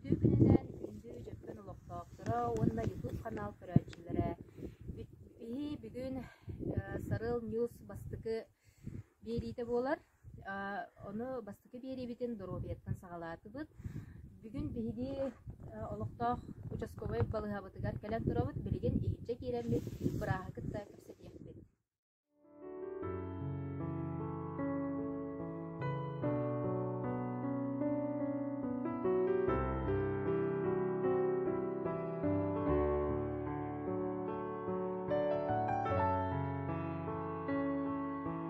Үтүө күнүнэн күндү дьөккөн олохтоохторо уонна YouTube канал көрөөччүлэрэ биһи бүгүн Сарыл News бастыкы биэриитэ буолар Ону бастакы биэриибитин доруобуйаттан саҕалаатыбыт. Бүгүн биһиги олохтоох участковай балыыһабытыгар кэлэн турабыт. Билигин иһирдьэ киирэммит бырааһы кытта кэпсэтиэхпит.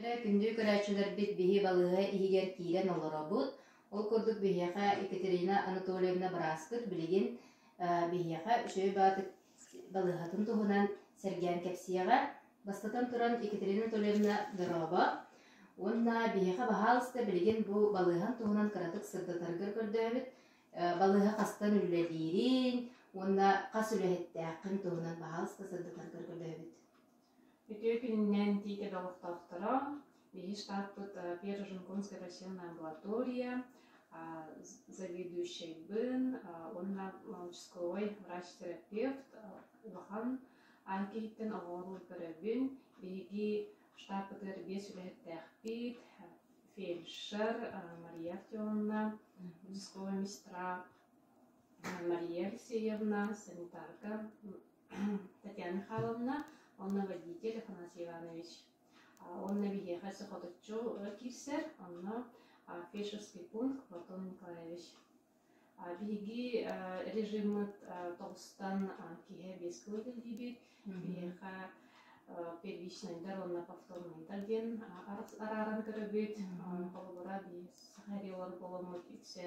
Эрэ күндү көрөөччүлэрбит биһи балыыһа иһигэр киирэн олоробут. Ол курдук биһиэхэ Екатерина Анатольевна бырааспыт билигин э, биһиэхэ Үчүгэй Баатык балыыһатын туһунан сэргээн кэпсиэҕэ. Бастатан туран, Екатерина Анатольевна дорообо. Уонна биһиэхэ баһаалыста билигин бу балыыһан туһунан кыратык сырдатаргар көрдөөбүт. Э, Балыыһа хастан үлэлиириҥ уонна хас үлэһиттээххин туһунан баһаалыста сырдатаргар көрдөөбүт. Үтүө күнүнэн тиити доҕордоохторо, биһи штатпыт Первоженкомская почтенная амбулатория заведующайбын уонна молочковой врач-терапевт улахан аан киһиттэн оҕоҕор көрөбүн. Биһиги штаппытыгар биэс үлэһиттээхпит фельдшер Мария Артемовна, участковая медсестра Мария Алексеевна, санитарка Татьяна Михайловна уонна водитель Афанасий Иванович. Уонна биһиэхэ сохоточчу киирсэр, онно фельдшерский пункт Платон Николаевич. Биһиги режиммыт тоҕустан киһи биэс кылы төлүүбүт. Биһиэхэ первичнайдар уонна повторнайдар диэн арааран көрөбүт. Холобура, биһиги саха аэриолог буоламмыт үксэ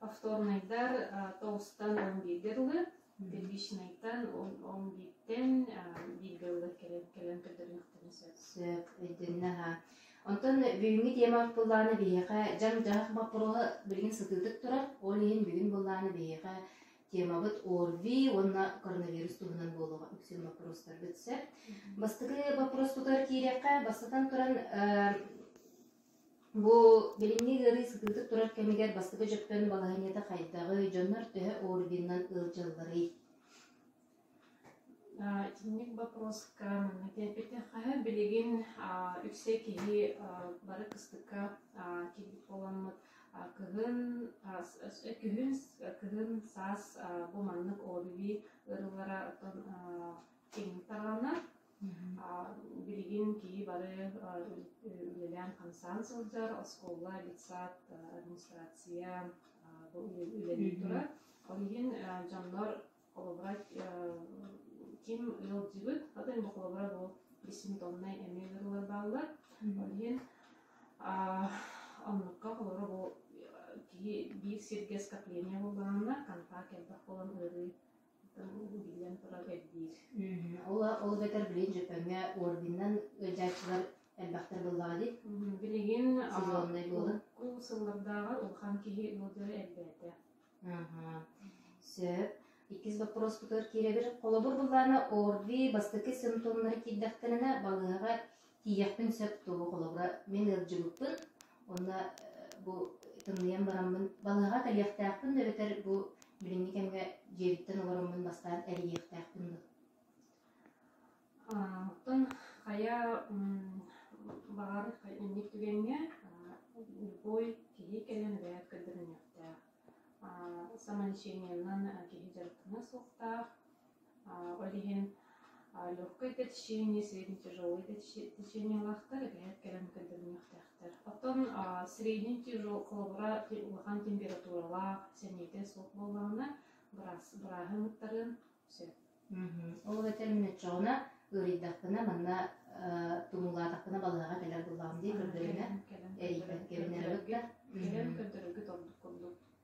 Повторнайдар тоҕустан он бииргэ дылы, первичнайтан он он бииртэн бииргэ дылы кэлэн кэлэн көтөрүөхтэрин сөп. Сөп, өйдөннө аһа. Онтон бүгүҥҥү тиэмэҕэ быллаана биһиэхэ дьаҥ-дьаһах боппуруоһа билигин сытыытык турар, ол иһин бүгүн быллаана биһиэхэ темабыт ОРВИ уонна коронавирус туһунан буолуоҕа үксүн боппуруостарбыт сөп. Бастакы боппуруос тутар киириэххэ, бастатан туран Бу билиҥҥи ыарыы сытыытык турар кэмигэр бастакы дьөппөн балаһыанньата хайдаҕый, дьоннор төһө орденынан ыалдьалларый? Итинник боппуруоска манна киирбитэ. Хаһы билигин үксэ киһи бары кыстыкка киирбит буоламмыт кыһын күһүн кыһын саас бу маннык ОБиби ыарыылара оттон киэҥник тарҕанна. Билигин киһи бары үлэлээн-хамсаан сылдьар, оскуола, детсад, администрация үлэлии турар. Ол иһин дьоннор холобурат ким ыалдьыбыт, хата эмэ холобура бу бессимптомнай эмиэ ыарыылар бааллар. Ол иһин оннукка холобура бу киһи биир сиргэ скопление буллаҕына контакт элбэх буолан ыарыы Ол ол эбэтэр билигин Дьөпөҥҥө орденынан ыалдьааччылар элбэхтэр буоллаҕа дии. Билигин сезоннай буолан. Ол сыллардааҕар улахан киһи ыалдьар элбээтэ. Сөп. Иккис боппуруоспутугар киирэбин. Холобур буллаана орди бастакы симптомнары киирдэхтэринэ балыыһаҕа тиийиэхпин сөп туһу холобура мин ыалдьыбыппын уонна бу тымныйан бараммын балыаҕа кэлиэхтээхпин да эбэтэр бу билиҥҥи кэмҥэ дьиэбиттэн олороммун бастаан эрийиэхтээхпин да оттон хайа баҕар инник түгэҥҥэ любой киһи кэлэн бэйэт көрдөрүнүөхтээх самолечениенан киһи дьарыктана суохтаах Ол иһин легкое течение, среднетяжелое течение ылахтар, эбэһээт кэлэн көрдөрүнүөхтээхтэр. Оттон средний тяжел холобура улахан температуралаах, сэниэтэ суох буоллаҕына, быраас бырааһын ыттарыан сөп. Ол этэлин өччөҕүнэ ыарыйдахпына манна тумулаатахпына балаһаҕа кэлэр буллаҕым дии көрдөрүнэ эрийбэт кэлэн көрдөрөргүт ордук курдук.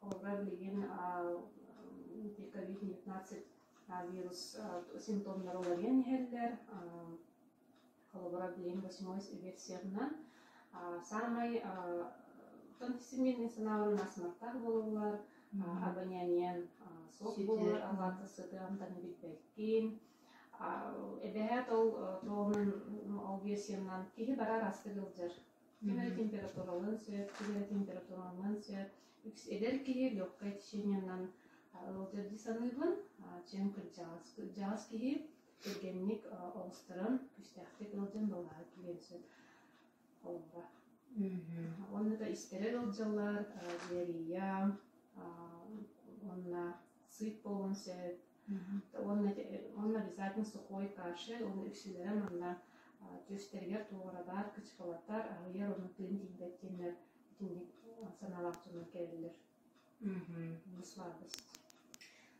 Ольга билигин COVID-19 вирус симптомнары уларыйан иһэллэр. Холобура билигин восьмой версиятынан саамай оттон хисимиирнэй санаалар нас маттаах буолулар абоняниян суох буолар аллаата сытыамтаны билбэккин эбэһээт ол туомун ол версиянан киһи барар асты Сиһэрэ температуралыан сөп, сиһэрэ температуралыан сөп. Эдэр киһи легкое течениенан ыалдьардыы саныыбын. Чем кырдьаҕас кырдьаҕас киһи кэргэнник оҕустаран күүстээхтик ыалдьан балаһа киириэн сөп холбо. Уонна да истэрэр ыалдьаллар диарея уонна сыып буолуон сөп, уонна, уонна обязательно сухой кашель, уонна үксүлэрэ манна түстэригэр туоҕаралар, кычкылатар, аһыйар уонна тыын тиийбэттиэннэр итинник санаалаах дьоннор кэлэллэр. Бусварбыс.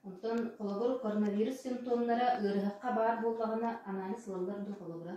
Онтон холобур, коронавирус симптомнара ыарыһахха баар буоллаҕына анализ ылаллар да холобура.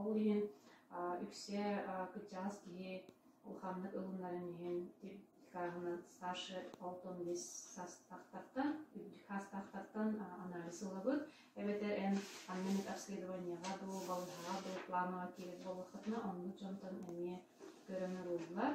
Ол иһин үксэ кырдьаҕас киһи улаханнык ылынарын иһин тикааһынан старше алтан бис саастаахтартан үрдүк саастаахтартан анализ ылабыт эбэтэр эн ханна эмит обследованияҕа дуу балыһаҕа дуу планово киирэр буоллаххытына оннук дьонтон эмиэ көрөн ылыллар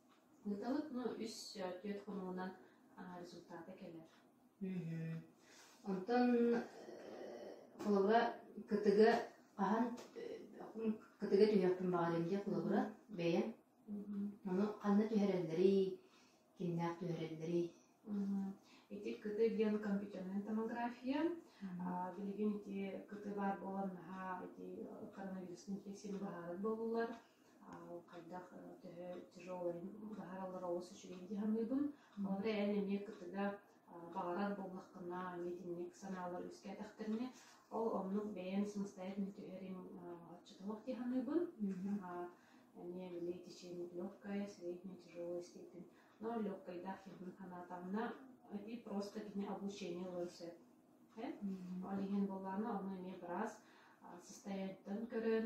Ыытабыт ну үс түөрт хонугунан результата кэлэр Онтон холобура кытыгы хаһан кытыгы түһүөхпүн баҕарыам диye холобура бэйэм ону ханна түһэрэллэрий кимнээх түһэрэллэрий Ити кыты диэн компьютерная томография билигин ити кыты баар буолан наһаа ити коронавирус инфекцияны быһаарар буоллулар хайдах төһө тяжело иһин быһаараллар олус үчүгэйдик саныыбын. Бары эн эмиэ кытыга баҕарар буоллаххына, миитинньик санаалар үөскээтэхтэринэ, ол оннук бэйэм самостоятельно түһэрим отчетовод дии саныыбын. эмиэ били течение легкое, среднее, тяжелая степень. Но легкойдах хиһин санаатаҕына, и просто кини обучение ылыан сөп. Ол иһин буоллаҕына, ону эмиэ быраас состояниетын көрөн,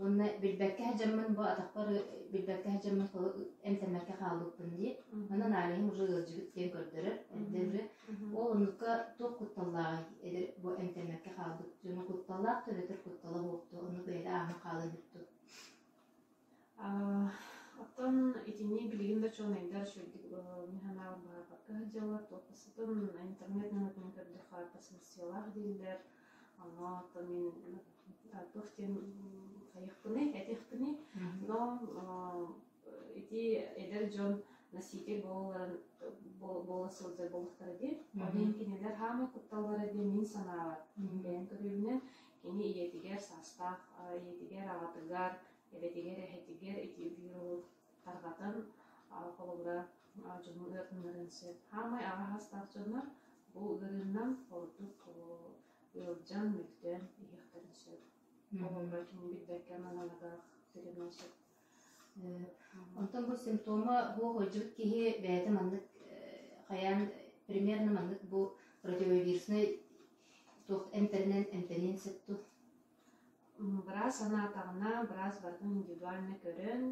Уонна билбэккэ сыдьаммын бу атахпар билбэккэ сыдьаммын эмтэммэккэ хаалбыппын дии. Онон Алиһым уже ыалдьыбыт диэн көрдөрөр. Эрдэ уже ол оннукка туох кутталлааҕый эдэр бу эмтэммэккэ хаалбыт дьону кутталлаах төлөтөр куттала буолбуту оннук бэйэтэ ааһан хаалан бүттум. Оттон итини билигин да учуонайдар чөлдүк мне санаабар быһаарбакка сылдьаллар, туох да сытын интернет нөҥүтүн көрдөххө барбат сымыссыйалаах дииллэр. Но то мен туох диэн хайыахпыный, этиэхпиний, но ити эдэр дьон носитель буолаларын буола сылдьар буолуохтара диэн онон кинилэр хаамай кутталлара диэн мин санаабар бэйэн көрүбүнэн кини ийэтигэр саастаах ийэтигэр аҕатыгар эбэтигэр эһэтигэр ити биир уол тарҕатар холобура дьону ыатыннарыан сөп. Хаамай аҕаһастаах дьоннор бу ыарыынан ордук ыалдьан, мөлтөөн иһиэхтэрин сөп. Холобура тугу билбэккэ маналатах тирэнэн сөп. Онтон бу симптома бу сылдьыбыт киһи бэйэтэ маннык хайаан примерно маннык бу противовируснай туох эмтэринэн эмтэниэн сөп ту Быраас санаатаҕына, быраас барытын индивидуально көрөн,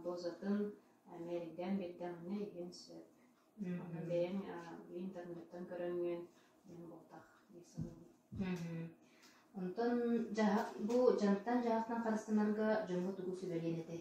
дозатын мээрийдээн биэрдэҕинэ иһиэн сөп. Онон бэйэҥ интернеттан көрөҥҥүн эн буолтах дии саныыбын. Онтон бу дьаһахтан-дьаһахтан харыстанарга дьоҥҥо тугу сүбэлиэн этэй?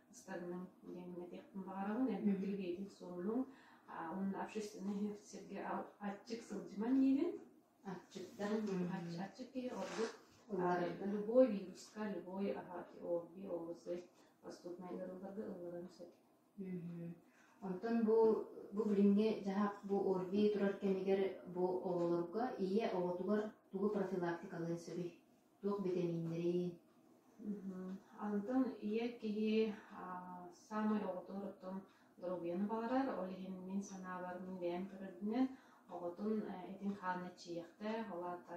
ыстарынан иҥэммэтиэхпин баҕарабын эмиэ биридиэтин суоллуҥ уонна общественнай сиргэ аччык сылдьыман диирин аччыктан аччык киһи ордук любой вируска любой орги оорусы поступнай ыарыыларга ылларан сөп Онтон бу бу билиҥҥи дьаһах бу ОРВИ турар кэмигэр бу оҕолорго ийэ оҕотугар тугу профилактикалыан сөбүй? туох битэмииннэрий? Анытын ийэ киһи саамай оҕотун доруобуйаны баҕарар, ол иһин мин санаабарбын бэйэм көрөрбүнэн оҕотун этин-хаанын эччийиэхтээх, ол аата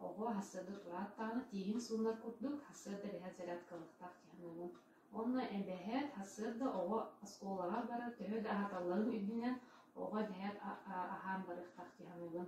оҕо сарсыарда турааттаҕына тииһин суунар курдук, сарсыарда бэһээт зарядка ылыахтаах дии саныыбын. Уонна бэһээт сарсыарда оҕо оскуолаҕа барар төһө да аһаталларын үрдүнэн оҕо бэһээт аһаан барыахтаах дии саныыбын.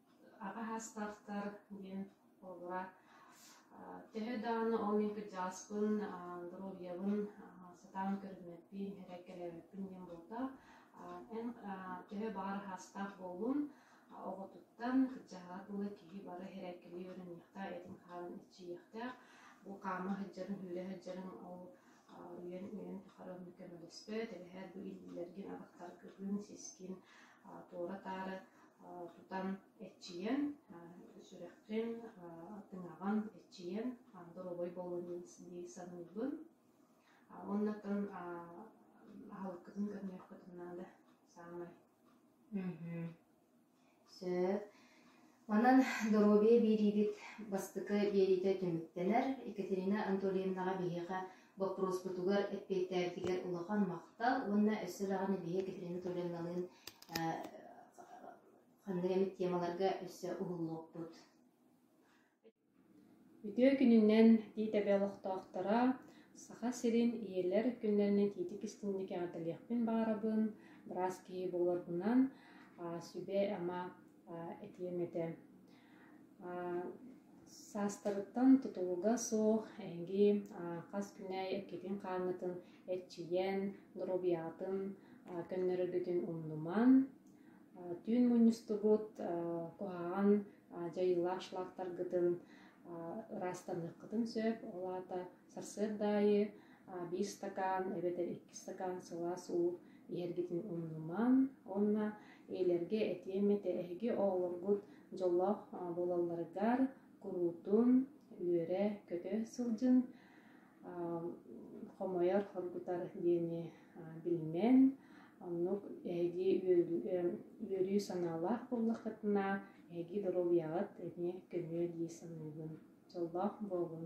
аҕа саастаахтар диэн буолара. Төһө даҕаны ол мин кырдьаҕаспын, доруобуйабын сатаан көрүммэппин, эрэ кэлээбэппин диэн буолта. Эн төһө баҕар саастаах буоллун, оҕотуттан кырдьаҕаҕа дылы киһи бары эрээккэлии үөрэниэхтээх, этин-хаанын эрчийиэхтээх. Бу хаама сылдьарын, сүүрэ сылдьарын ол уйан-үйэн тухары оннук көмөлөспөт. Эбэһэр бу иллэргин, атахтаргын, сискин туора-таары тутан эрчийэн, сүрэххин тыҥаҕын эрчийэн, доруобай буолуон дии саныыбын. Уоннатан аһылыккытын көрнөххүтүн наада саамай. Сөп. Онон доруобуйа биэриибит бастакы биэриитэ түмүктэнэр. Екатерина Анатольевнаҕа биһиэхэ Боппуруоспутугар эппиэттээбитигэр улахан махтал уонна өссө даҕаны биһиэхэ Екатерина Тулевналыын ханнык эмит темаларга өссө уһуллуохпут. Үтүө күнүнэн тиитэбэ олохтоохторо Саха сирин ийэлэр күннэринэн тиитик истиҥник эҕэрдэлиэхпин баарабын быраас киһи буоларбынан сүбэ ама этиэм этэ Саастарыттан тутулуга суох эһиги хас күнэй эккитин хааҥҥытын эрчийэн, доруобуйаҕытын көннөрөргүтүн умнумаҥ, түүн мунньустугут куһаҕан дьайыылаах шлактаргытын ыраастаныаххытын сөп. Ол аата Сарсыарда аайы биир стакан эбэтэр икки стакан сылаас уу иһэргитин умнумаҥ уонна ийэлэргэ этиэм этэ эһиги оҕолоргут дьоллоох буолалларыгар куруутун үөрэ көтө сылдьын хомойор хоргутар диэни билимэҥ оннук эһиги үөрүү санаалаах буоллаххытына эһиги доруобуйаҕыт эмиэ көнүө дии саныыбын дьоллоох буолуҥ